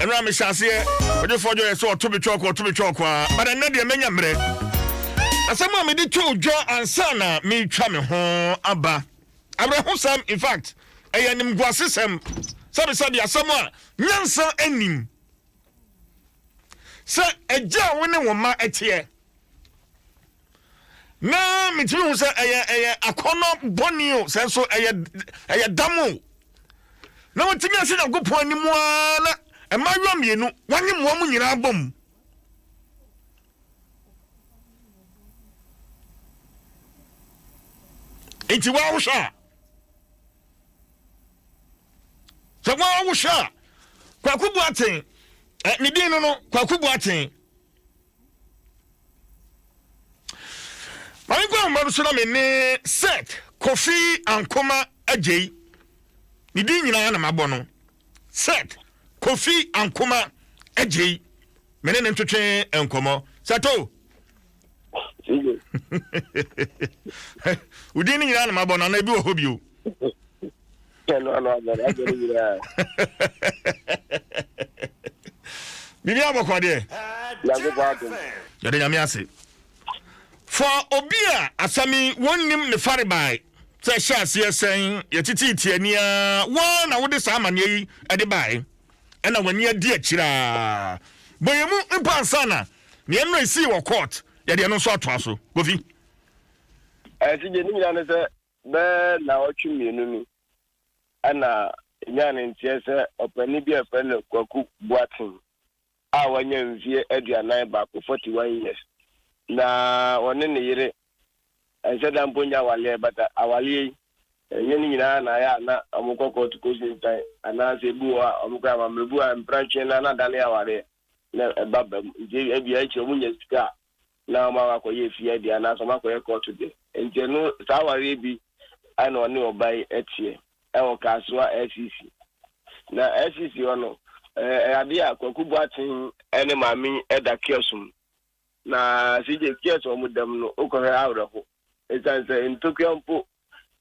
ɛno a mehyɛ aseɛ ɔdwefoɔ dwɔ yɛ sɛ ɔto betwa ɔkɔ ɔto betwa ɔkɔ a bada nnɛ deɛ mɛnya mmerɛ asɛm a mede to dwa ansa na metwa me ho aba awerɛhosɛm in fact ɛyɛ animguasesɛm sɛbesɛbe asɛm a nyansa anim sɛ agya a wo ne wo mma ɛteɛ Na metumi hu sɛ ɛyɛ ɛyɛ akɔnnɔ bɔne o, sɛ nso ɛyɛ ɛyɛ dam o. Na wɔtumi ase Nyankopɔn anim ara na mmaayewa mmienu wɔanye mmoa mu nyinaa bɔ mu. Nti wɔawohwɛ a sɛ wɔawohwɛ a kwaku boaten ne din no no kwaku boaten Maame kɔ ahoma no so na me ne Seth Kofi Ankoma Agyei. Ne din nyinaa na mabɔ no. Seth Kofi Ankoma Agyei. Me ne ne ntwetwe nkɔmmɔ. Sɛto! Wo din no nyinaa na mabɔ no, anaa ebi wɔ hɔ bio? biribi abɔkɔ deɛ yɛde nyame ase fɔ obi a asɛm yi wɔnnim ne farebae sɛ ɛhyɛ aseɛ sɛn yɛtete tiania wɔn na wode saa amanneɛ yi ɛde bae ɛna w'ani adi akyiraa bɔyɛ mu mpo ansa na neɛ no ɛsii wɔ court yɛde ɛno nso atoa so kofi ɛsi gye ne nyina ne sɛ Bɛyɛ naawɔtwe mmienu ni na ɛnyaa ne nteɛ sɛ ɔpanin bi a wɔfrɛ no Kwaku Boateng a wanya mfeɛ aduanan baako, 41 years, na ɔne ne yere ɛnsɛ da mpo nyɛ awaleɛ but awaleɛ yi ɛnyɛ ne nyinaa na ayɛ a na wɔkɔ kɔɔto kɔsi ntan anaasɛ ebi wɔ hɔ a wɔkɔ yɛ amammerɛbu a mprantwe no na adane awareɛ. na ɛba ba mu. Nti ebia ebia akyire wɔn nya sika a, na wɔn akɔ akɔyɛ efie adeɛ anaasɛ wɔn akɔyɛ kɔɔto deɛ. Nti ɛno saa awareɛ bi ɛna ɔne ɔbaa yi ɛteɛ ɛwɔ Kasoa LCC. Na LCC hɔ no ɛɛ ɛyɛ adeɛ a Kwaku Boateng ɛne maame yi ɛda kiosk mu. Na CJ kiosk a wɔn da mu no wokɔ hwɛ awerɛho. Ɛsiane sɛ ntokua mpo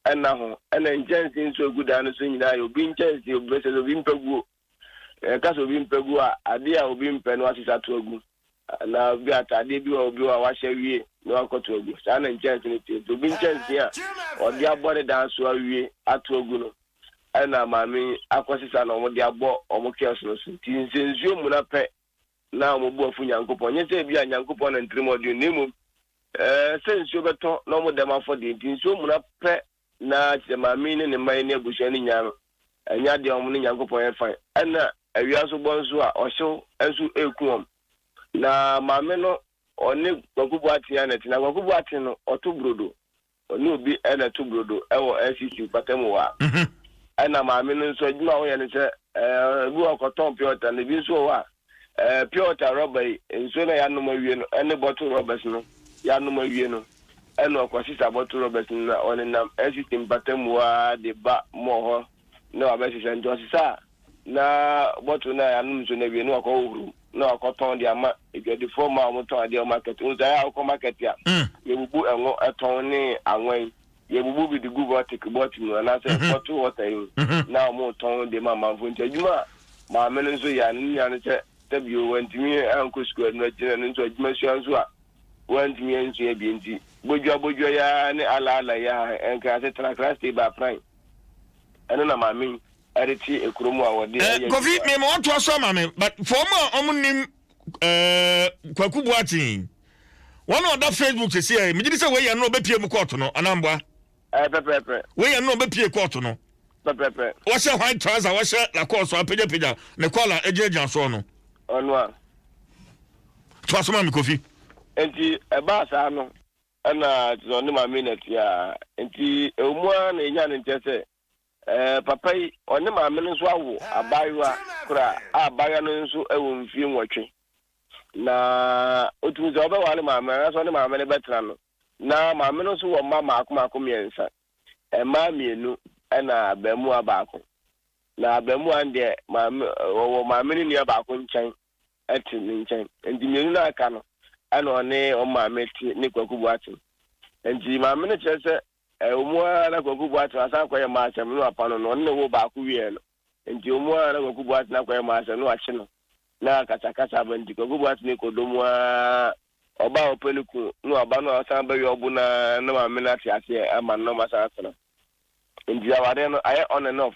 ɛnna ho ɛna nkyɛnsee nso a egu dan no so nyinaa yɛ obi nkyɛnsee obi bɛsɛ obi mpaguo. Na yɛka sɛ obi mpɛ gu a, adeɛ a obi mpɛ no wasesa ato agu. Anaa bi ataadeɛ bi wɔ hɔ a obi wɔ a wahyɛ awie na wakɔto agu. Saa na nkyɛnse no teɛ. Nti obi nkyɛnse a ɔde abɔ ne dan so awie ato agu no na maame yi akɔsesa na wɔde abɔ wɔn kɛɔs no so. Nti nsɛnsuo mmuna pɛ na wɔn bo afu Nyankopɔn. Ɛnyɛ sɛ ebia Nyankopɔn na ntirimɔdwene na mmom sɛ nsuo bɛtɔ na wɔda mu afɔdeɛ nti nsuo mmuna pɛ Ná sɛ maame yi ne ne mma yi ne abusua no nnya no, ɛnyɛ ade a wɔne Nyankopɔn yɛ fann. Ɛnna awia nso bɔ nso a, ɔhyew nso reku wɔn. Na maame no, ɔne Kwaku Boateng na ɛte. Na Kwaku Boateng no, ɔto brodo. Ɔne obi na ɛto brodo wɔ LCC mpɔtam hɔ a. Ɛnna maame no nso, adwuma a ɔyɛ ne sɛ, ebi wɔ hɔ a, ɔkɔtɔn pure water, na ebi nso wɔ hɔ a, eh, pure water rɔba yi, nsuo na yɛanom awie no ɛne bottle rɔbɛs no yɛanom awie no ɛna ɔkɔsesa bottle rɔbɛs no na ɔnenam ɛsisi mpatamu ara de ba mɔɔ hɔ na wabɛsesa nti ɔsesa a na bottle no a yɛanom nsuo no awie na wakɔhohoro mu na wakɔtɔn de ama adwadifoɔ ma a wɔtɔn adeɛ wɔ market wo sɛ ayɛ a wokɔ market a mm. yɛbubu ɛngo ɛtɔn ne anwan Yɛbubu bi de gu vortic bɔt mu anaasɛ bottle water yi mu na wɔretɔn de ma amanfoɔ. Nti adwuma a maame no nso yɛ a ne nua no sɛ sɛ bio wantumi ankɔ sukuu a ɛno akyi no ɛno nso adwuma sua nso a wantumi ansua bi nti bodwoa bodwoa yi ara ne ala ala yi ara ɛnka ase tra kra stay by pran ɛno na maame yi ɛde te ekuro mu a wɔde ɛyɛ adwuma. Kofi mema wɔntoa so ama me but for wɔn a wɔnim eh, kwaku boaten wɔn a ɔda facebook sisi ɛ megye di sɛ wei yɛ no ɔbɛpie mu kɔɔto no anamboa eh, pɛpɛɛpɛ wei yɛ no ɔbɛpie kɔɔto no pɛpɛɛpɛ wɔhyɛ white trouser wɔhyɛ lakɔɔso apagyapagya ne kɔla agyinagyina soɔ no ɔno a to asoma me kofi nti ɛbaa saa no ɛna te sɛ ɔne maame na tia nti ɛwɔ mu a na ɛnya ne nkyɛ sɛ Ɛɛ, papa yi, ɔne maame no nso awo abaayewa koro a abaayewa no nso wɔ mfie nwɔtwe. Na otumi sɛ ɔbɛware maame no anaasɛ ɔne maame no bɛtena no. Na maame no nso wɔ mma mmaako mmaako mmiɛnsa, mmaa mmienu ɛna abaamua baako. Na abaamua no deɛ maame, ɔwɔ maame no nua baako nkyɛn te ne nkyɛn. Nti mmienu no a aka no ɛna ɔne wɔn maame te ne Kwaku Boateng. Nti maame no kyerɛ sɛ Ɛwɔ mu ara na Kwaku Boateng asan akɔyɛ maasɛm na wɔapa no no, ɔno na ɛwɔ baako wieɛ no. Nti ɛwɔ mu ara na Kwaku Boateng akɔyɛ maasɛm na wɔakye no na akasakasa aba nti Kwaku Boateng kɔ dɔ mu ara, ɔba a ɔpɛ ne kunu na waba no a ɔsan bɛyɛ ɔbo no ara na maame no ate aseɛ ama no na wɔasan atena. Nti awareɛ no ayɛ on and off.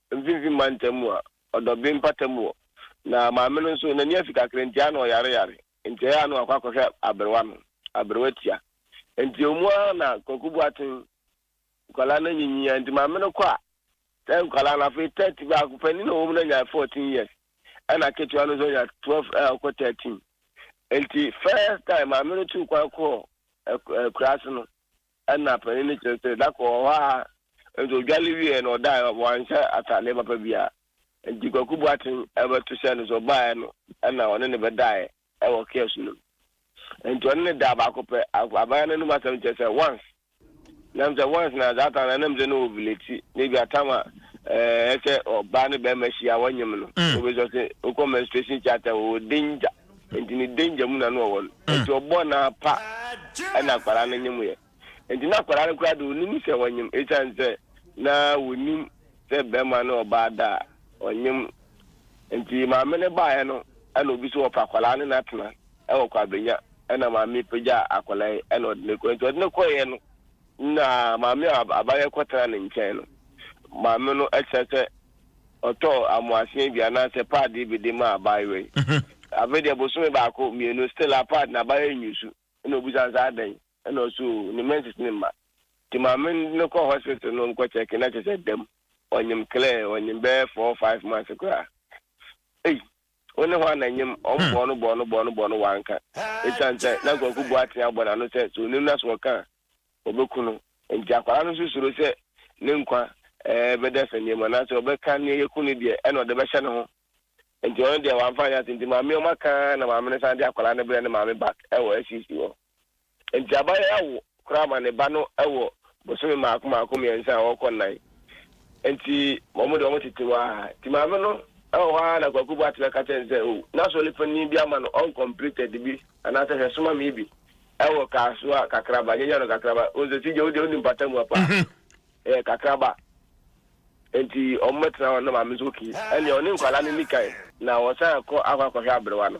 Mfimfini mantam mu a ɔdɔ bee mpata mu hɔ. Na maame no nso, n'ani afi kakra nti, ano ɔyareyare. Nti ɛyɛ a na wakɔ akɔhwɛ aberewa no. Aberewa tia. Nti ewɔ mu ara na Kwaku Boateng, nkwadaa no anyinyin ara nti, maame no kɔ a, na nkwadaa no afei thirty, baako panin a ɔwɔ mu no anya fourteen years, ɛna ketewa no nso anya twelve a ɔkɔ thirteen. Nti first time maame no tuu kwan kɔɔ akuraase no, Ɛna panin no kyerɛ sɛ na kɔɔ hɔ ara nti ɔdwale wieɛ no ɔdaeɛ wanhyɛ ataadeɛ papa biara nti Kwaku Boateng bɛto hyɛɛ no so ɔbaeɛ no ɛna ɔne no bɛdaeɛ ɛwɔ kiosk no mu nti ɔne no daa baako pɛ aban no anum asɛm kyerɛ sɛ once nam sɛ once na saa time na nam sɛ na ovulate na ebi atam a ɛɛ sɛ ɔbaa ne bɛrima hyia wɔnyem no wobɛsɛ sɛ wokɔ menstruation theatre wɔ danger Nti ne danger mu na no ɔwɔ no. Hmm. Nti ɔbɔ no ara pa ɛna akwadaa no nyem yɛ. Nti na akwadaa no koraa de onim sɛ wɔnyem esiane sɛ na wɔnim sɛ bɛrima ne ɔbaa da a ɔnyem. Nti maame no baeɛ no ɛna obi so wɔfa akwadaa no na atena ɛwɔ Kwabenya ɛna maame pagya akwadaa yi ɛna ɔde no kɔ. Nti ɔde no kɔeɛ no na maame a abayɛ kɔtena ne nkyɛn no maame no ɛkyerɛ sɛ Ɔtɔɔ amoasen bi anaasɛ paadee bi de maa abaayewa yi. Afei deɛ bosome baako, mmienu, still apart na abaayewa yi nyi su. Ɛna ɔbisa no sɛ, adɛn? Ɛna ɔse, oh, ne menses no mma. Nti maame no kɔ hospital no nkɔ check na kyerɛ sɛ dam. Ɔnyem clear, ɔnyem bɛyɛ four, five months koraa. Ei! Wo ne hwan na ɛnyem? Wɔn bɔɔ no bɔɔ no bɔɔ no bɔɔ no, wanka. Ɛsiane sɛ na Kwaku Boateng abɔ n'ano sɛ sɛ ɔnim na sɛ ɔka a, wɔbɛku no. Enti akwadaa no nso suro sɛ ne nkwa bɛda asɛnneɛ mu anaasɛ ɔbɛka nea ɛyɛ kunu deɛ ɛna ɔde bɛhyɛ ne ho. Enti ɔno deɛ wamfa anyɛ ase nti maame ɔma ka ara na maame no san de akwadaa no brɛ ne maame back wɔ SCC hɔ. Enti abayewa awo koraa ma ne ba no wɔ bosome mmaako mmaako mmiɛnsa a ɔrekɔ nnan. Enti wɔn deɛ wɔtete hɔ ara. Enti maame no wɔ hɔ ara na Kwaku Boateng aka kyerɛ no sɛ oh, n'asɔre panin bi ama no uncompleted bi anaasɛ hwɛ soma me bi. Ɛwɔ kaa so a kakraba nyanya no kakraba ɔsɛ si gye wodeɛ woni mpata mu apa ɛyɛ kakraba nti ɔmo bɛtena hɔ na maame nso oki ɛneɛ ɔne nkwalaa no ni kan na wɔsan kɔ akɔ akɔhwɛ abrewa no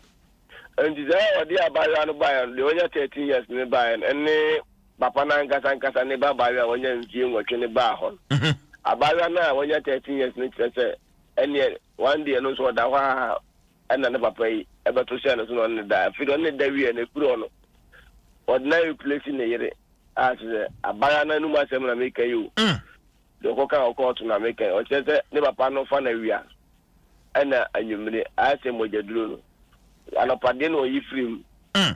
nti sɛ ɔde abaayewa no baeɛ no deɛ wanya 13 years no baeɛ no ɛne papa no ankasa ankasa ne ba abaayewa a wanya mfie nwɔtwe no baa hɔ no abaayewa no a wanya 13 years no kyerɛ sɛ ɛneɛ One deɛ no nso ɔda hɔ aa ɛna ne papa yi bɛto hyɛɛ no so na ɔne no da. Afei deɛ ɔne no da wieɛ no ɛfiri hɔ no ɔde no a replace ne yere a kyerɛ sɛ abaayewa no anum asɛm na meka yi o. Deɛ ɔkɔ kan wɔ kɔɔto na meka yi. Ɔkyerɛ sɛ ne papa no fa no awia ɛna anwummere ayɛ sɛ mogyaduro no. Anɔpa deɛ na ɔyi firi mu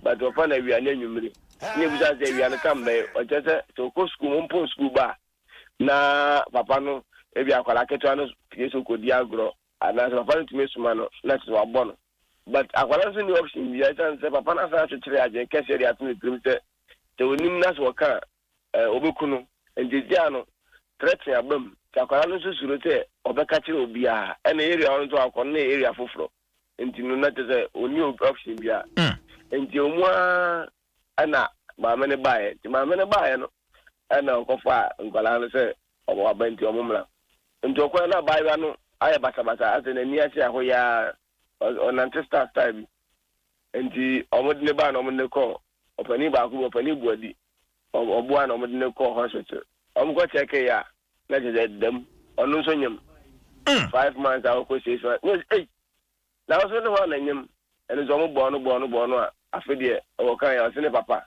but ɔfa no awia ne anwummere. Ɛna ɛbisa no sɛ awia no ka mbɛn. Ɔkyerɛ sɛ sɛ ɔkɔ sukuu mpo sukuu ba a na papa no, ebi akwadaa ketewa no pue so kɔdi agorɔ, anaasɛ papa no tumi soma no na kyerɛ sɛ wabɔ no. But akwadaa no nso nni option biara ɛsiane sɛ papa no asan akyekyere adwene kɛseɛ de ato ne tirim sɛ sɛ ɔnim na sɛ ɔka a, wɔbɛku no. Nti egyaa no threaten aba mu. Nti akwadaa no nso suro sɛ ɔbɛka kyerɛ obiara. Ɛna area hɔ no nso akɔ no na ɛyɛ area foforɔ. Nti no na kyerɛ sɛ ɔnni option biara. Nti wɔn ara Ɛna maame no baeɛ. Nti maame no baeɛ no, ɛna ɔkɔfaa nkwadaa no sɛ wɔn aba nti wɔn mmra. Nti ɔkɔɛ na abaayewa no ayɛ basabasa, asɛ n'ani ahyɛ ahoyaa, ɔs ɔnante star star bi. Nti wɔn de no baa na wɔn de no kɔɔ ɔpanin baako bi, ɔpanin Buadi, ɔ ɔboa na wɔn de no kɔɔ hospital. Wɔn kɔ kyɛkeeɛ a, na kyerɛ sɛ dɛm, ɔno nso nyem. Mm. Five months a ɔkɔ six months, na ɔsi ei, Nanso ne hwan na nyam ɛno sɛ ɔmo bɔɔ no bɔɔ no bɔɔ no a afe deɛ ɔwɔ kan a ɔse ne papa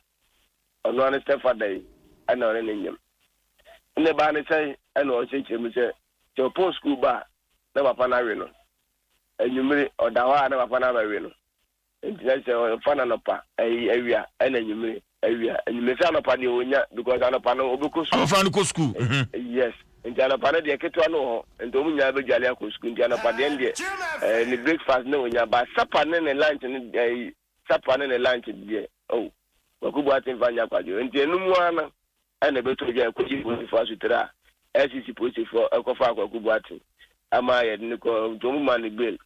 ɔno ara ne step father yi ɛna ɔne ne nyam nnɛ baa ne sɛn ɛna ɔkyerɛkyerɛ mu sɛ sɛ ɔpɔn school ba a na papa no awe no anwummere ɔda hɔ a na papa no abɛwe no nti na sɛ ɔfa no anɔpa ɛyi awia ɛna anwummere Awia ɛnyi mesi anɔpa deɛ onya because anɔpa no obɛkɔ sukuu. Abɔfra no kɔ sukuu. Yes nti anɔpa no deɛ ketewa no wɔ hɔ nti wɔn nyinaa bɛdwale akɔ sukuu nti anɔpa deɛ no deɛ ɛɛ ne breakfast no onya but supper ne ne lunch no ɛɛ supper ne ne lunch deɛ oh kwaku boate nfa nya kwadwo nti ɛno mu ara no ɛna ɛbɛtɔ adwa ɛkɔgye polisifoɔ asotire a ɛsisi polisifoɔ ɛkɔfa kwaku boate ama yɛde ne kɔ nti wɔn ma ne bail.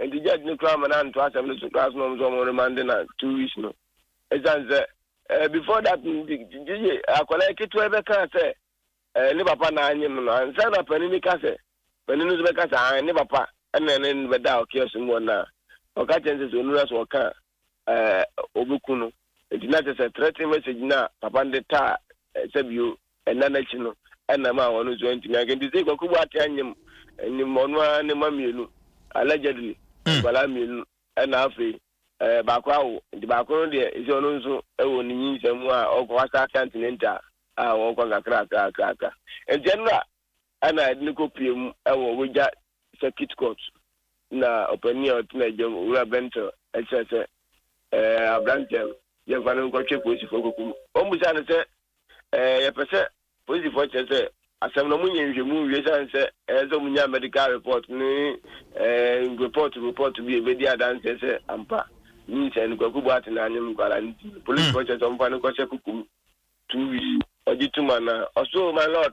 Enti judge no koraa ma no antoa asɛm no so koraa soma wɔn sɛ wɔn remande no two weeks no ɛsiane sɛ eh, before that no gyegye akwadaa ketewa yi bɛkaa sɛ eh, ne papa na anyem no ansa na panin no ka sɛ panin no nso bɛka sɛ ah, ne papa ɛna ne bɛda ɔkeɛ so mu wɔn na ɔka kyɛn sɛ sɛ onura so ɔka wobeku no. Enti na kyerɛ sɛ threatening message no a papa no de taa sɛ bio nna no akyi no na ɛmaa ɔno nso antumi anka. Enti sei Kwaku Boateng anyem nim ɔno ara ne mma mmienu, allegedly nkwadaa mmienu na afei baako awo. Nti baako no deɛ ɛsɛ ɔno nso wɔ ne nyinsɛn mu a ɔkɔ hɔ asɛ akantinenta a ɔkɔ nkakrakrakrakra. Nti ɛno na Ɛna yɛde no kɔpue mu wɔ Wagya Circuit Court na ɔpanin a ɔtena agya mu, Owura Bentel, kyerɛɛ sɛ ɛɛ aberanteɛ no, yɛmfa no nkɔtwe polisifoɔ nkɔku no. Wɔbisaa no sɛ, Ɛɛ yɛpɛ sɛ polisifoɔ kyerɛ sɛ asɛm no wɔnyɛ nhwehwɛmu nwie ɛsiane sɛ ɛsɛ sɛ wɔnya medical report ne ɛɛ report report bi a ɛbɛdi adanseɛ sɛ ampa nyinsɛn no Kwaku Boateng na anyem nkwadaa no nti polisifoɔ kyerɛ sɛ wɔmfa no nkɔhyɛ kuku mu two weeks ɔgye tom anaa? Ɔse, Oh my Lord!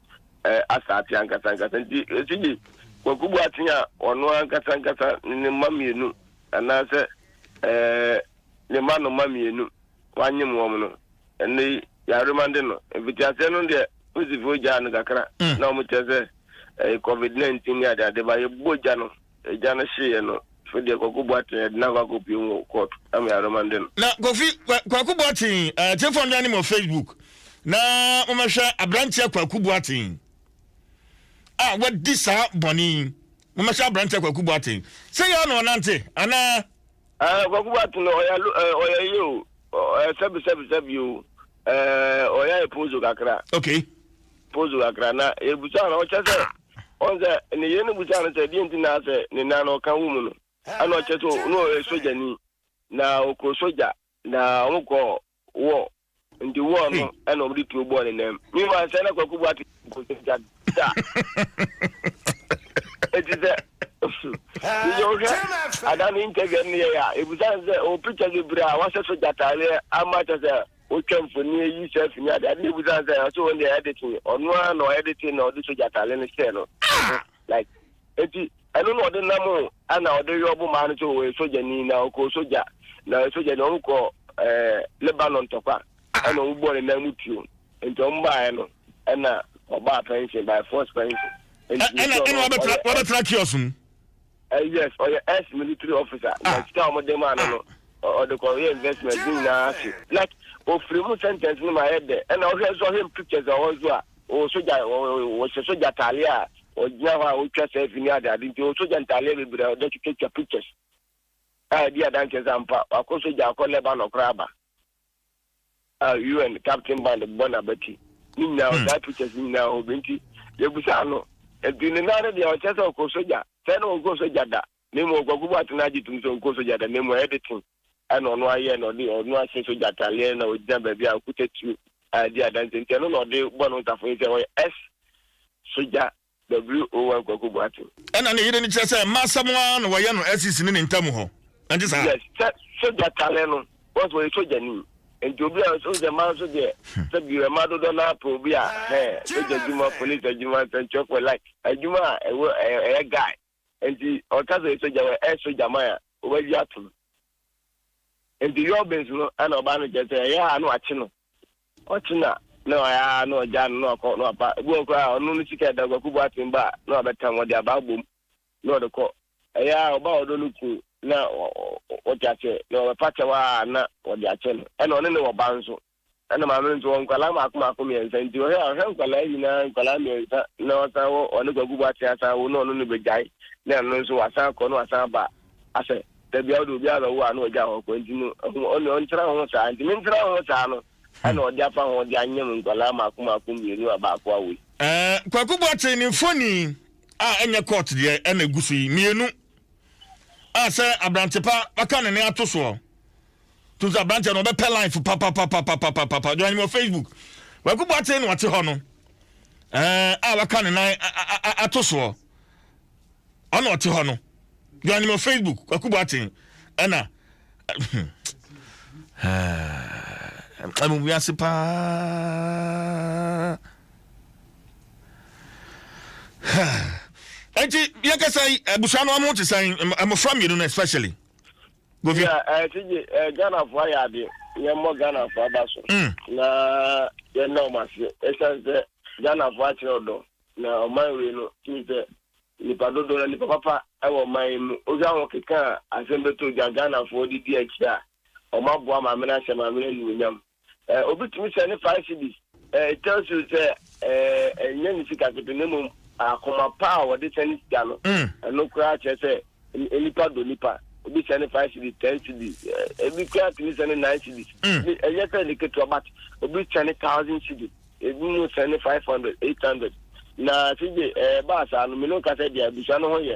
eh, asaate ankasa ankasa nti ɛsigye Kwaku Boateng a ɔno ankasa ankasa ne ne mma mmienu anaasɛ eh, ne mma no mma mmienu wanyem wɔn no ɛnɛ yi yɛaremande no mfitiaseɛ no deɛ posifoɔ gyaa no kakra mm. na wɔkyerɛ sɛ eh, covid-19 ne adeade ba yɛbɔ gya no Agya no hyeeɛ no, afei deɛ Kwaku Boateng ɛde no akɔ akɔpue mu wɔ court ama Yaroma de no. Na Kofi, Kwaku Boateng, atiefoɔ nnwan ne mo wɔ Facebook na momɛhwɛ aberanteɛ Kwaku Boateng a wadi saa bɔne yi. Momɛhwɛ aberanteɛ Kwaku Boateng. Sɛ yɛ na ɔnante anaa? Kwaku Boateng no ɔyɛ ɔyɛ yɛ o, ɔyɛ sɛbi sɛbi sɛbi o. Eh, ɔyɛ ayɛ pozo kakra. Okay. Pozo kakra na ebusa no ɔkyɛ sɛ ɔn sɛ ne yere no busa no sɛ deɛ nti na sɛ ne nan no ɔka wo mu no ɛna ɔkyɛ sɛ no ɔyɛ sogyani na ɔkɔ sogya na wɔkɔ wɔ nti wɔ no ɛna wɔde tuo bɔɔ ne nan mu mi ma sɛ na kwakubu ate nkosɛgya da eti sɛ yeyɛ ohwɛ ada ne interview ne yɛ a ebusa ne sɛ o picture bebree a wahyɛ so gyataaleɛ ama kyɛ sɛ wotwa mfoni ayi selfie ne ade ade ne ebusa ne sɛ ɔsɛ wɔn deɛ editing ɔno ara na ɔyɛ editing na ɔde so gyataaleɛ no hyɛ no like eti ɛno na ɔde nam o ɛna ɔde yɔ bo maa no sɛ ɔyɛ sogyani na ɔkɔ sogya na sogyani ɔmo kɔ ɛɛ Lebanon tɔkwa ɛna ɔmo bɔ ne nan mu tuo. Nti ɔmo baeɛ no ɛna ɔbaa pension by force pension. Nti ne sɛ ɔno ɔyɛ ex. Wabɛtena kiosk mu. Eh yes ɔyɛ ex military officer na sika a ɔmo de maa no no ɔde kɔ yɛ investment ne nyinaa hye like ofiri mu sentence no mu ayɛ dɛ ɛna wohwɛ nso ɔhwɛ pictures a ɔwɔ nso a ɔwɔ sogya ɔhyɛ sogya ataadeɛ a ɔgyina hɔ a ɔtwa selfie ne ade ade nti ɔwɔ sogya ntaadeɛ bebree a ɔde twitwa pictures a ɛdi adanseɛ sɛ ampa wakɔ sogya akɔ Lebanon koraa aba Ah UN captain band bɔ n'abati ne nyinaa hɔ saa pictures ne nyinaa hɔ bi nti yɛbusaa no nti ne nan no deɛ ɔkyɛ sɛ ɔkɔ sogya sɛ na ɔnkɔ sogya da na mmom ɔkwaku bɔ atena agye tom sɛ ɔnkɔ sogya da na mmom editing ɛna ɔno ayɛ na ɔde ɔno ahyɛ sogya ataleɛ na ɔgyina baabi a ɔkuta tuo a di adanse nti ɛno na ɔde bɔ no ntafo yi sɛ ɔyɛ S sogya WOR Kwaku Boateng. Ɛna ne yere no kyerɛ sɛ mma asɛm ara na wɔyɛ no SEC ne ne ntam hɔ ɛnte saa? Yes sɛ sogya kane no cos ɔyɛ sogya ni nti obi a ɔsɛ sɛ mma nso deɛ sɛ bi mma dodoɔ naa pɛ obi a hɛɛ sogya adwuma police adwuma nsɛnkyerɛfoɔ like adwuma a ɛwɔ ɛyɛ guy Enti ɔka sɛ sɛ gyama ɛso gyaman a wɔbɛgye ato no. Enti Yɔbes no na ɔbaa no nkyɛn sɛ ɛyɛ a na wakye no. Ɔkye no a, na ɔyɛ ara na ɔgyaa no na wakɔ na waba. Ebi wɔ hɔ koraa a, ɔno ne sika a ɛda Kwaku Boateng ba a na wabɛtam, ɔde aba abom na ɔde kɔ. Ɛyɛ a ɔba a ɔdɔ no kunu na wate aseɛ na ɔbɛfa kyɛw a na wɔde akyɛ no. Ɛnna ɔne no wɔ ba nso. Ɛna maame no nso wɔ nkwadaa mmaako mmaako mmiɛnsa nti ɔhwɛ a ɔhwɛ nkwadaa yi nyinaa nkwadaa mmiɛnsa na ɔsan wɔ ɔne kwaku bɔ aten asan wo na ɔno no bɛgyae na ɛno nso wasan akɔ na wasan aba asɛ dabi a ɔde obi a bɛwo a na ɔgya hɔ kɔ nti no ɛho ɔne ɔntena ho saa nti me ntena ho saa no ɛna ɔde afa ho de anyam nkwadaa mmaako mmaako mmienu a baako awo yi. Ɛɛ kwaku bɔ aten ne mfoni a ɛnyɛ court deɛ ɛna egu so yi mmienu a sɛ abrantepa bɛka ne ne ato soɔ. Tutu aberanteɛ no ɔbɛpɛ life papapapapapapa dwan wɔ Facebook Kwaku Boateng na ɔte hɔ no ɛɛ a waka ne nan ato soɔ ɔna ɔte hɔ no dwan wɔ Facebook Kwaku Boateng ɛna ɛmu wiase paa ɛnti yɛkasa yi abusua no ɔmo te sɛn mmɔfra mmienu no especially Kofi. Yeah, uh, eh, TJ, uh, eh, Ghana for ayɛ ade. Yɛn mmɔ Ghana for aba so. Mm. Na yɛn na wɔn ase. Ɛsan sɛ Ghana for akyerɛ ɔdɔ. Na ɔman wei no tumi sɛ nipa dodo na nipa papa ɛwɔ ɔman yi mu. Obi ahɔ keka asɛm bɛtɔ dwa Ghana for didi akyi a wɔn aboa maame no ahyɛ maame no anuonyam. Eh, obi tumi sɛ ne five cedis. Eh, it tells you sɛ eh, ɛnyɛ eh, ne sika ketewa na mmom akoma pa a wɔde sɛ ne sika no. Mm. Ɛno koraa kyerɛ sɛ nipa dɔ nipa. Obi sɛ ne five cedis, ten cedis, eh, ebi koraa tumi sɛ ne nine cedis. Mm. Ɛnyɛ sɛ ne ketewa but obi sɛ ne thousand cedis, ebi mu sɛ ne five hundred, eight hundred. Na sɛ gye ɛɛ eh, baa saa no, mene nka sɛ deɛ abusua no ho yɛ.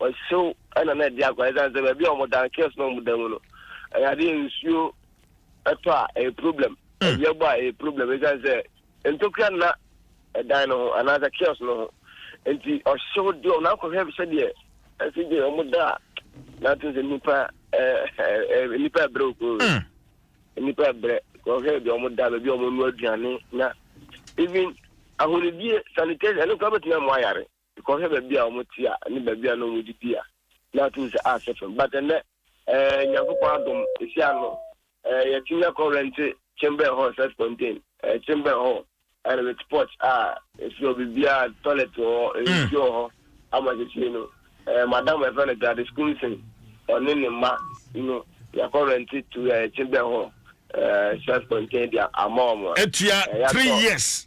Ɔhyew na na ɛde akɔ ɛsiane sɛ baabi a wɔda no kiosk na wɔda mu no ɛyɛ adeɛ nsuo ɛtɔ a ɛyɛ problem awia bɔ a ɛyɛ problem ɛsiane sɛ ntokura nna ɛdan no ho anaasɛ kiosk no ho nti ɔhyew deɛ wɔn akɔhwɛ sɛdeɛ ɛsɛ gye wɔn da a n'ato sɛ nipa ɛɛ nipa ɛbrɛ okuro nipa ɛbrɛ wɔhwɛ deɛ wɔn da baabi a wɔn nua aduane na even ahonidie sanitation ɛno kura bɛtumi amu ayare. Kɔhwɛ baabi a wɔte a, ne baabi a na wɔdidi a, na atum sɛ ah sɛ fɛm. But ɛnnɛ, eh, Nyankopɔn adom, esi ano, eh, yɛte nya kɔ rente chamber hall sɛ Spontane, eh, chamber hall, and with porch a, esi hɔ bibia, toilet wɔ hɔ, mm. nsuo wɔ hɔ, ama sisi no, eh, madam ɛfɛ no Gladys Kumsen, ɔne ne mma no, yɛkɔ rente to eh, chamber hall, eh, sɛ Spontane dia ama wɔn. Etua eh, three years.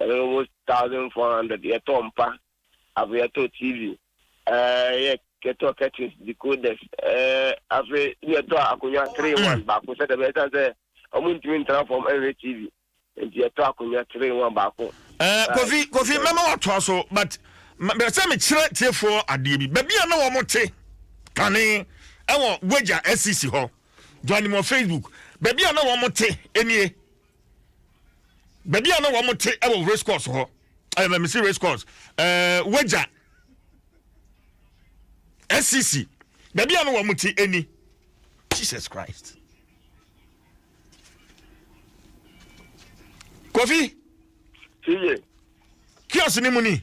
Ɛyɛ almost thousand four hundred yɛtɔɔ mpa afei yɛtɔɔ TV ɛɛ yɛtɔɔ curtains decoders ɛɛ afei yɛtɔɔ akonnwa three in one baako sɛdeɛ ɛbɛyɛ san sɛ wɔn ntumi ntena fam ɛnhwɛ TV nti yɛtɔɔ akonnwa three in one baako. Ɛɛ kofi kofi mɛma watoa so but bɛ sɛ mekyerɛ tiefoɔ adeɛ bi baabi a na wɔn te kane ɛwɔ Wagya SCC hɔ dwanimɔ Facebook baabi a na wɔn te nie. baabi a na wɔn te wɔ race course hɔ ɛmɛ eh, mesi race course ɛɛ eh, wagya scc baabi a na wɔn te ɛni jesus christ kofi. kí ọ̀sìn ni mu ni.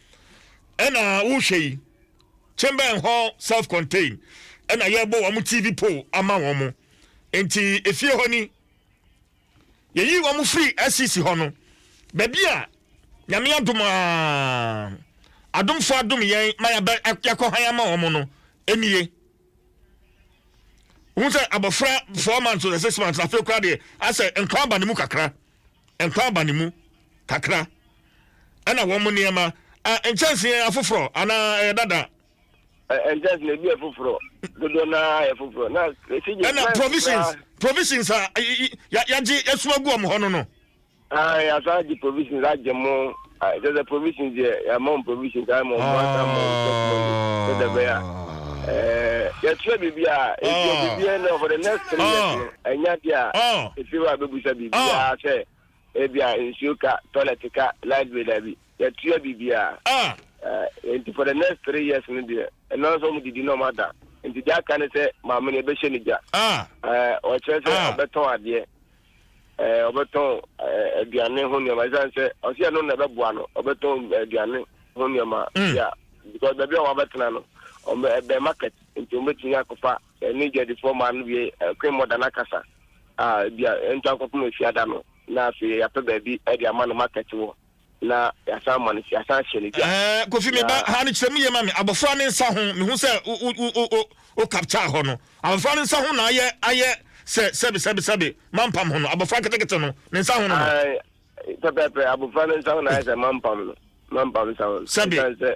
ɛna wohwɛ yi chamber hɔ self contained ɛna yɛbɔ wɔn tv pole ama wɔn nti efie hɔ ni yɛyi wɔn firi scc hɔ no baabi a nyame adom a adomfo adom yɛn ma yɛakɔ han ama wɔn no ɛnie wohu sɛ abɔfra four months or six months afei kora deɛ asɛ nkwa aba ne mu kakra nkwa aba ne mu kakra, ɛnna wɔn nneɛma a nkyɛnse yɛ afoforɔ anaa ɛyɛ dada. nkyɛnse na ebi yɛ foforɔ dodoɔ no ara yɛ foforɔ na esi gye ɛnna provisions provisions a yagye asuma gu wɔn hɔ no no. ayi asan gye provisions agye mo. Ah kyerɛ sɛ provisions deɛ yɛama wɔn provisions ayɛ ma wɔn mo asa ma wɔn check money sɛ dɛ bɛyɛ a ɛɛ yɛtua biribi a etua biribi a ɛnna for the next three years no ɛnya deɛ a efi hɔ a bɛbusa biribi a sɛ ebi a nsuo ka toilet ka light bill dabi yɛtua biribi a ɛɛ nti for the next three years no deɛ ɛno ara sɛ wɔn didi na wɔn ada nti deɛ aka ne sɛ maame no ɛbɛhyɛ ne gya ɛɛ ɔkyerɛ sɛ ɔbɛtɔn adeɛ ɛɛ ɔbɛtɔn ɛɛ aduane ho nneɛma ɛsan sɛ ɔsi ɛno na ɛbɛboa no ɔbɛtɔn aduane ho nneɛma mm. ya because baabi a wɔabɛtena no ɔmɛ ɛbɛn market nti wɔbɛtumi akɔfa ɛne gyadifoɔ maa no wie ɛkwen mɔda no akasa a ebi a ɛntu akɔpem efiada no na afei yɛapɛ baabi ɛde ama no market wɔ. na yɛasan ma no yɛasan hyɛ no dwa. Ɛɛ Kofi me ba ha no kyerɛ mu yie ma me abɔfra ne nsa ho mehu sɛ wo wo wo wo wo capture hɔ no abɔfra ne nsa ho na ayɛ ayɛ sɛ sɛbi sɛbi sɛbi mampam ho no abɔfra ketekete no ne nsa ho no no. Ɛɛ pɛpɛɛpɛ abɔfra ne nsa ho na ayɛ sɛ mampam no mampam nsa ho no ɛsan sɛ.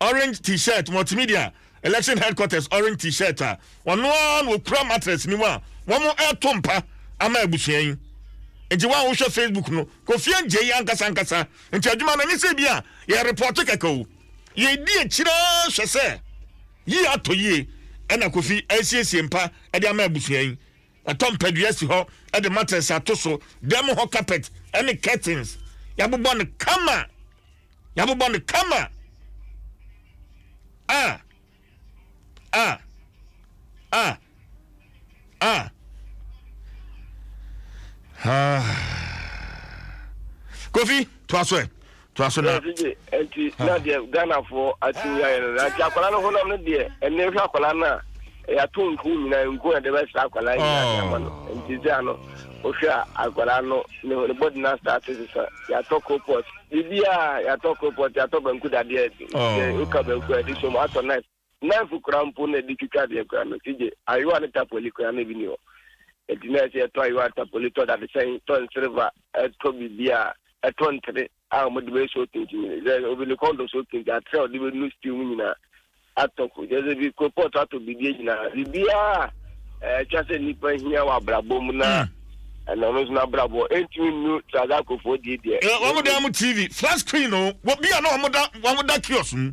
Orange T-shirt, Multimedia, Election Headquarters Orange T-shirt a ɔno ara na ɔkura mattress no mu a wɔreto mpa ama abusua yi. Nti wa wohwɛ Facebook no, Kofi Angyei yi ankasa ankasa, nti adwuma no ɛnyɛ sɛ bi a yɛ report kɛkɛ o. Yɛdi akyire ara hwɛ sɛ yie atɔ yie ɛna Kofi asiesie mpa de ama abusua yi. Wɔatɔ mpadua asi hɔ de matress ato so, dan mu hɔ carpet ne curtains, yɛabobɔ no kama. Yɛabobɔ no kama. Ah! Ah! Ah! Ah! Ah! Kofi, to aso ɛ. Toa so na. Ɛsɛ gye ɛnti na deɛ Ghana foɔ atumi ayɛ no na nti akwadaa no honam no deɛ ɛnɛ hwɛ akwadaa no a ɛyɛ ato nku nyinaa nku na ɛde bɛsra akwadaa nyinaa de ama no oh. nti sɛ ano wohwɛ a akwadaa no ne ho ne bɔdi no asate sesa yɛatɔ kropɔt biribiaa yɛatɔ kropɔt yɛatɔ banku dadeɛ oh. woka banku a ɛde som atɔ knife Knife koraa mpo na ɛde twitwa adeɛ koraa no si gye. Ayowa ne tapoli koraa na ebi nni hɔ. Enti na ɛsɛ sɛ yɛtɔ ayowa, tapoli, tɔ dadesɛn, tɔ nserva, tɔ biribiara, tɔ ntere a wɔde bɛyɛ soul tinting no. Sɛ obi ne kɔn dɔ soul tinting, atere a wɔde bɛnu stew mu nyinaa atɔ. Kyerɛ sɛ ebi kolpɔt atɔ biribiara nyinaa. Biribiara a ɛtwa sɛ nnipa hia wɔ abrabɔ mu na hmm. ɛna ɔno nso n'abrabɔ ɛntumi nnu Trazakofoɔ die deɛ. Wɔn dan mu TV, flat screen o, wɔ bi a na wɔn da wɔn da kiosk mu.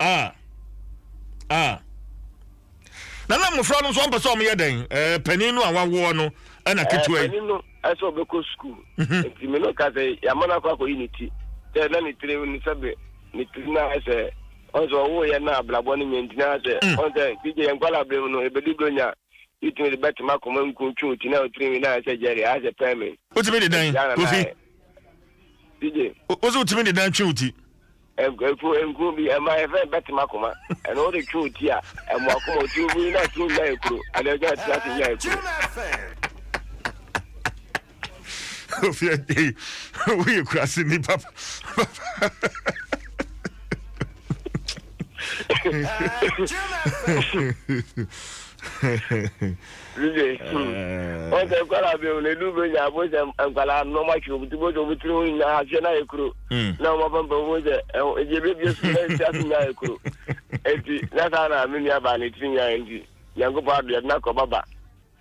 ah ah na na mmɔfra no nso ɔmpɛ sɛ ɔmoyɛ dɛn eh, panin no a wawoɔ no ɛna eh, ketewa yi panin no ɛsɛ ɔbɛkɔ sukuu mhm. nti me no ka sɛ yɛama no akɔ akɔyi ne ti sɛ na ne tiri no sɛ be ne tiri no ayɛ sɛ ɔn sɛ ɔwoyɛ no abrabɔ no nyɛ ntina sɛ mm. ɔn sɛ bigye yɛ nkwala berɛ mu no ɛbɛdu berɛ nya wotumi de bɛtema akoma nku twe ti na wotiri nwi no ayɛ sɛ gyɛre ayɛ sɛ pɛme wotumi de dan kofi bigye wo sɛ wotumi de dan twe wo ti Nkuro nkuro bi ɛma yɛfɛ bɛtem akoma ɛna wode twe wo ti a ɛmo akoma ɔti obu yi na tiri nya yɛ kuro ɛna ɛgya ɛtena ase nya yɛ kuro. Ofia ei woyɛ kurase ni papa papa. Lule, hmm. Ɔn sɛ nkwadaa bɛ wɔn edu bɛ nya bɔ sɛ nkwadaa na wɔn atwi wɔn ti bɔ sɛ wɔn tiri ho nyinaa ahyehyɛ na ayɛ kuro. Na wɔn apampam bɔ sɛ ɛho ebi ebi ebi esu na esi ase nyinaa ayɛ kuro. Eti na saa na me nua baa ne tiri nyinaa yɛ nti nyankopɔ ado yɛde na kɔ baba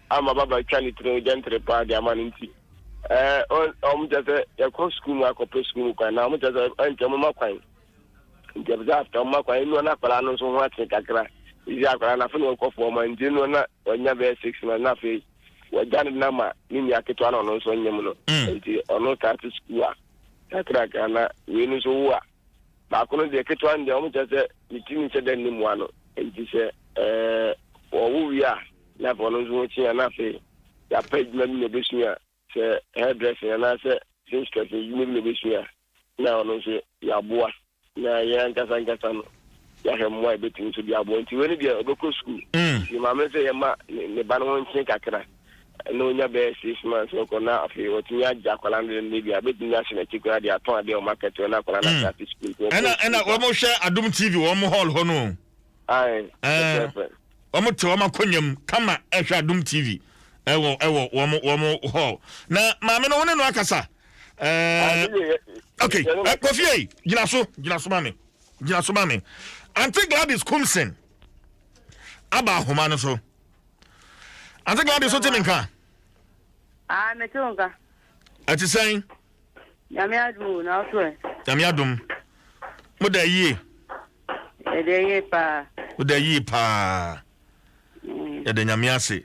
ama baba twa ne tiri ho gyɛntere paa de ama no nti ɛɛ wɔn kyɛ sɛ yɛkɔ sukuu mu akɔpɛ sukuu mu kwan na wɔn kyɛ sɛ ɛnkyɛ wɔn ma kwan. nti ɛpɛ sɛ afta ɔma kwan ɛnua no akwadaa no nso ho ate kakra ɛsi akwadaa no afei na ɔkɔ fɔɔ ma nti ɛnua na ɔnya bɛyɛ six months na afei wɔgya no na ma ne nua ketewa na ɔno nso nyem no mm. nti ɔno start school a kakrakra na wei no nso wo a baako no deɛ ketewa no deɛ wɔn kyɛ sɛ ne ti ne nhyɛ dɛ ne mua no nti sɛ ɛɛ wɔwo wie a na afei ɔno nso ho kyea na afei yɛapɛ adwuma bi na ɛbɛsua a Sɛ hairdressing anaasɛ seamstress adwuma bi na obesua a, na ɔno nso yɛaboa, na yɛn ankasa ankasa no, yɛahwɛ mmoa a yebetumi nso de aboa. Enti wei no deɛ, ɔbɛkɔ sukuu. Ne maame no sɛ yɛmma ne ba no ho nkyen kakra, na onya bɛyɛ six months na ɔkɔ, na afei watumi agye akwadaa no dendene bi a, obetumi ahyɛ n'akyi koraa de atɔn ade a wɔakɛtɛ hɔ na akwadaa no asan afi sukuu. Nti wɔkɔɔ sukuu saa. Ɛna wɔhwɛ Adom TV wɔn hɔl hɔ no o. Ae, pɛpɛɛpɛ. wɔn te wɔn akonnwa mu kama ɛhwɛ adum tv ɛwɔ ɛwɔ wɔn wɔn hall na maame no wɔne no akasa ɛɛ ok ɛ kofi eyi gyina so gyina so maame gyina so maame aunty gladys kumsen aba ahoma no so aunty gladys o ti mi nka. aa ah, mi ti nka. ɛti sɛn. Nyame adom o, na wo so ɛ? Nyame adom. Moda yie? Yɛda yie paa. Woda yie paa. Mm. Yɛda Nyame ase.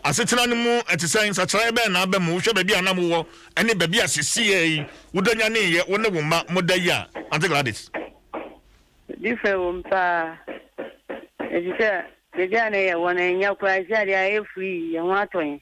Asetena no mu ɛte sɛ nsakyeraeɛ bɛn na aba mu? Wohwɛ baabi a na mowɔ ɛne baabi a sesieɛ yi wodɔ nyaneeɛ wo ne wo mma moda yi a Ante Gladys? Different wɔ mu paa. Ɛfiri sɛ baabi a na yɛwɔ no ɛnya koraa ɛsɛ adeɛ ayɛ free yɛn ho atɔ yɛn.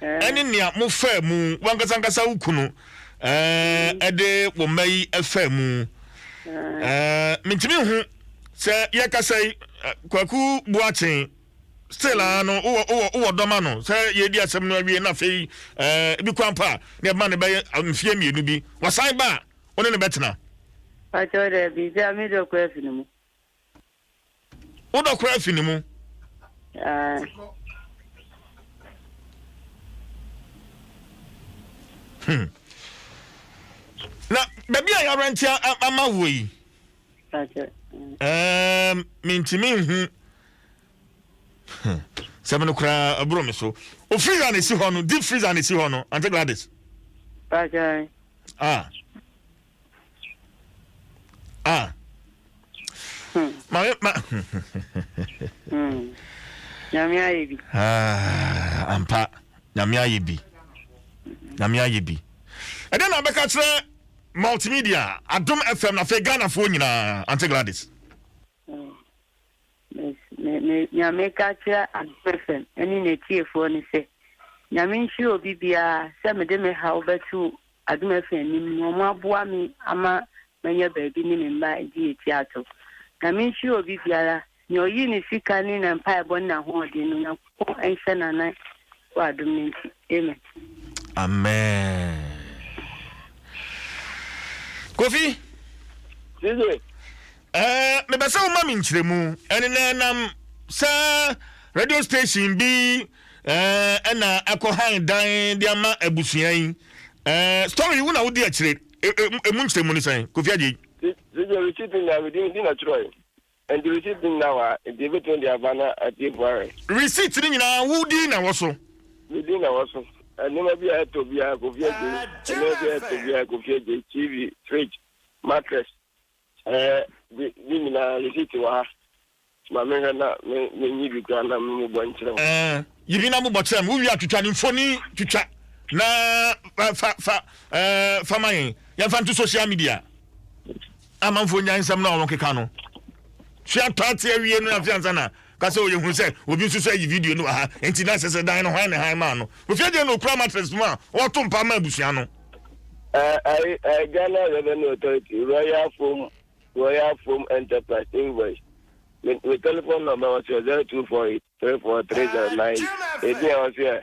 ɛne nea mofaa mu, w'ankasa ankasa wo kunu ɛɛ de wo mma yi faa mu ɛɛ mentumi nhu sɛ yɛkasa yi kwaku boakyen still ara no wowɔ wowɔ wowɔ dɔma no sɛ yɛdi asɛm no awie na afei ɛɛ bi kwan pa a na ɛbɛma no bɛyɛ mfeɛ mmienu bi wasan ba a wo ne no bɛtena. Pakyɛw dɛ bi sɛ amedɔ kɔ afiri mu. Wodɔ koraa fi ne mu. Hmm. Na baabi a yɛara nti ama woɔ yi. Um, mentumi nhu sɛm no koraa aburo me so o freezer na esi hɔ no deep freezer na esi hɔ no ante gladys. Ah. ah maame ma nyame ayɛ bi ah, ampa nyame ayɛ bi nyame ayɛ bi ɛdɛ na abɛka kyerɛ multimedia adom fm na afei ghanafoɔ nyinaa ante gladys Nea meka akyerɛ Adom FM ne n'atiefoɔ ne sɛ, Nyame nhyira obi biara sɛ mede me haw bɛto Adom FM anim na wɔaboa me ama manya baabi ne me mma adi yɛ ti ato. Nyame nhyira obi biara, nea ɔyi ne sika ne ne mpaebɔ ne n'ahoɔden no, Nyankopɔn. Nyankopɔn nhyɛ no anan wɔ adom no nti. Amen. Amen. Kofi. Dide. Ɛɛ mebɛ sɛ woma me nkyerɛmu ɛne na ɛnam sɛ radio station bi ɛɛ ɛna ɛkɔ han dan de ama abusua yi ɛɛ story yi wo na wodi akyire emu nkyerɛmu ne sɛn Kofi Agye. Dide receipt na medi na twerɛ yi. Ɛnde receipt no nyinaa wɔ ha, enti yebetumi de aba na atiefo ahwɛ. Receipt no nyinaa, wo din na ɛwɔ so? Me din na ɛwɔ so. Nneɛma biara a ɛtɔ biara, Kofi Adjei. Nneɛma biara a ɛtɔ biara, Kofi Adjei. TV, fridge, mattress, ɛɛ, de, ne nyinaa, receipt wɔ ha. Ma menhwɛ na me, menyi bi koraa na memmobɔ nkyerɛ wo. Ɛɛ, yi bi na mobɔ kyerɛ me. Wuwie a, twitwa ne mfoni twitwa na fa, fa, fa, ɛɛ, fa ma yɛn. Yɛmfa nto social media. amanfoɔ nya nsɛm no a wɔkeka no tua taate awie no afei ansa na ka sɛ ɔyɛ hu sɛ obi nso so ayi video no wɔ ha nti na sɛ sɛ dan no hwan ne han maa no kofi adeɛ na ɔkura matress mu a ɔto mpa ma abusua no Ghana Revenue Authority Royal Foam Royal Foam Enterprise invoice me telephone number was 0248 34309 ebi a ɔsɛ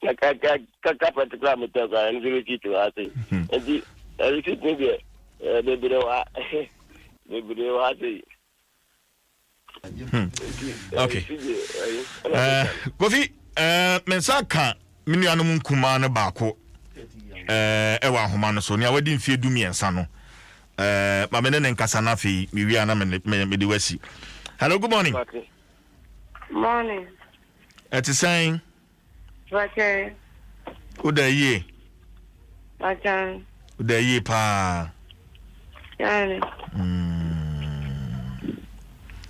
carpet koraa metɔ koraa ɛno nso receipt wɔ ase nti receipt no deɛ bebree wɔ ha bebree wɔ ha sɛ yi okay kofi me nsa ka me nuanom nkumaa no baako ɛwɔ ahoma no so nea wadi mfeɛ du mmiɛnsa no ma me ne ne nkasa no afei mewia na mede wasi hello good morning morning Ɛte sɛn? Pakyɛ. Woda yie? Pakyɛ. Woda yie paa. Yaani. Mm.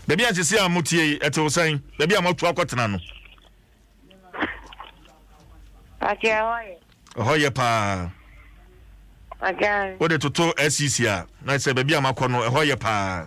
Baabi a sisi a mo tie yi, ɛte wo sɛn? Baabi a mo atu akɔtena no. Pakyɛ ɛhɔ yɛ. Ɛhɔ yɛ paa. Pakyɛ. Wode toto SCC a, na sɛ baabi a makɔ no, ɛhɔ yɛ paa.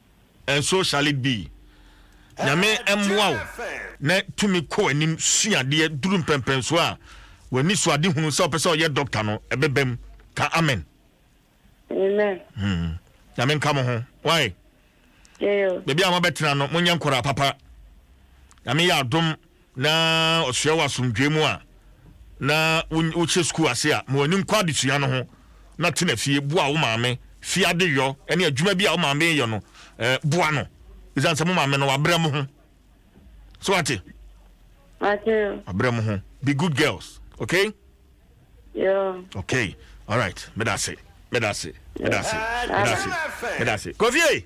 And so shall it be. Nyame mmoa wo na tumi kɔ w'anim sua adeɛ duru mpɛnpɛnsoɔ a w'ani so ade hunu sɛ wopɛ sɛ ɔyɛ doctor no ɛbɛba mu. Ka amen. Amen. Hmm. Nyame nka mo ho. Why? Baabi a mabɛtena no monyɛ nkɔraa papa. Nyame yɛ adom. na ɔsoɛ wɔ asomdwoe mu a, na wohyɛ sukuu ase a, ma w'ani nkɔ adesua no ho na tena fie boa wo maame fi adeyɔ ne adwuma bi a wo maame yɛ no eh, boa no ɛsiane sɛ mo maame no wabrɛ mo ho so wate wabrɛ mo ho be good girls okay yeah. okay all right medase medase medase medase medase kofie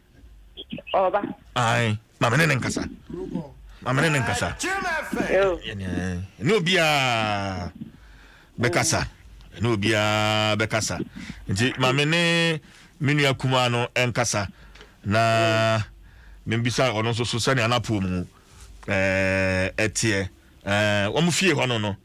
Ɔba. Ae, ma me ne ne nkasa. Ma me ne ne nkasa. Ɛne obiara bɛkasa. Ɛne obiara bɛkasa. Nti ma me ne me nua kumaa no nkasa na membisa ɔno nso so sɛnea n'apoo mu ɛteɛ. Wɔn fie hɔ no no.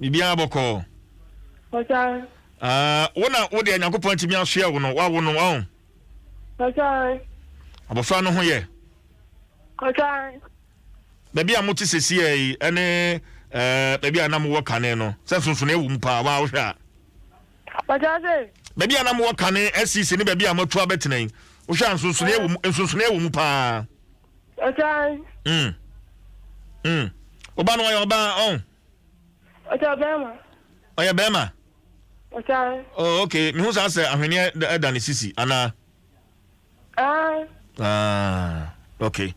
Biribiara bɔkɔɔ. Pasa. Ah, wo na wo deɛ Nyankopɔn atumi asoɛ wo no, wawo no, ɔn. Pasa. Abɔfra no ho yɛ. Pasa. Baabi a mo te sɛsi yɛ yi, ɛne ɛɛ baabi a na mo wɔ kane no, sɛ nsonson ewu mu paa, waa wohwɛ a. Pasa se. Baabi a na mo wɔ kane ɛsisi ne baabi a mo atu abɛtena yi, wohwɛ a nsonson ewu mu, nsonson ewu mu paa. Ọtan. Mm. Mm. Ọba no ọyẹ ọba ọhún. Ọtọ bẹẹma. Ọyẹ bẹẹma. Ọtan. Oh, ok. Mi hu saa sẹ ahweneɛ ɛda ne sisi anaa. Ah. Ah, ok.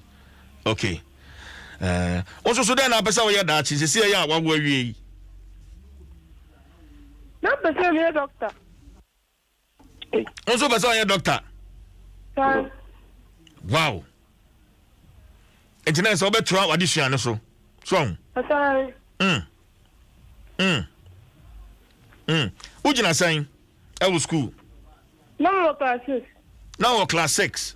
Ok. Eh, o nso so dɛn na apɛ sɛ woyɛ daakye sisi ɛyɛ a wawo awie yi? Na apɛ sɛ meyɛ dɔkta. wo nso wopɛ sɛ ɔyɛ dɔkta wow nti na sɛ wobɛtoa wade sua no so so ho mm. mm. mm. wogyina sɛn ɛwɔ skuul na wɔ class six na wɔ class six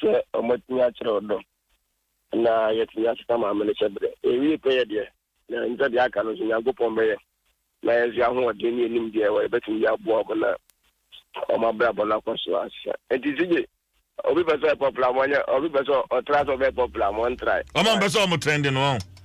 sɛ wɔatumi akyerɛ ɔdɔ na yɛatumi asesa Maame no hyɛberɛ. Yɛwie pɛ yɛ deɛ, na ɛnsɛ sɛ deɛ aka no nso Nyankopɔn bɛyɛ ma yɛn nso ahoɔden ne yɛn nimdeɛ a ɛwɔ yɛbɛtumi de aboa wɔn na wɔn abrabɔ no akɔ so asesa. Nti CJ, obi pɛ sɛ ɔyɛ popular ama ɔnyɛ, obi pɛ sɛ ɔtra sɛ ɔbɛyɛ popular ama ɔntrae. Wɔn a wɔpɛ sɛ wɔn trendy no wɔn.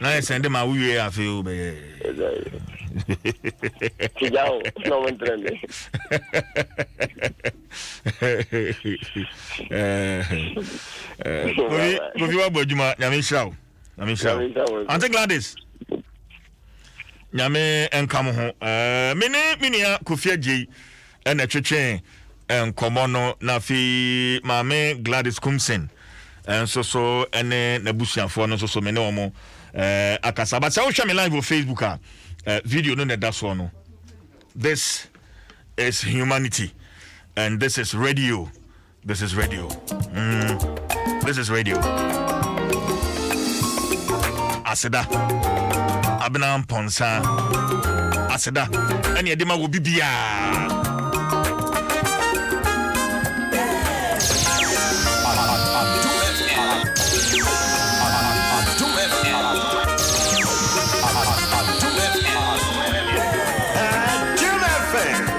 na yɛ sɛn de ma wowie yɛ afei o bɛyɛ tigya o na ɔmo ntere me kofi kofi wa bɔ adwuma nyame nhyira o nyame nhyira o ante gladys nyame nka mo ho mene me nua kofi agyei na ɛtwetwee nkɔmmɔ no, na afei Maame Gladys Kumsen nso so ne n'abusuafoɔ no nso so me ne wɔn akasa. But sɛ wohwɛ me live wɔ Facebook a, video no na ɛda soɔ no. This is humanity and this is radio. This is radio. Mm. This is radio. Aseda. Abena Mponsa. Aseda. Ɛne ɛde ma wɔ bibiaa.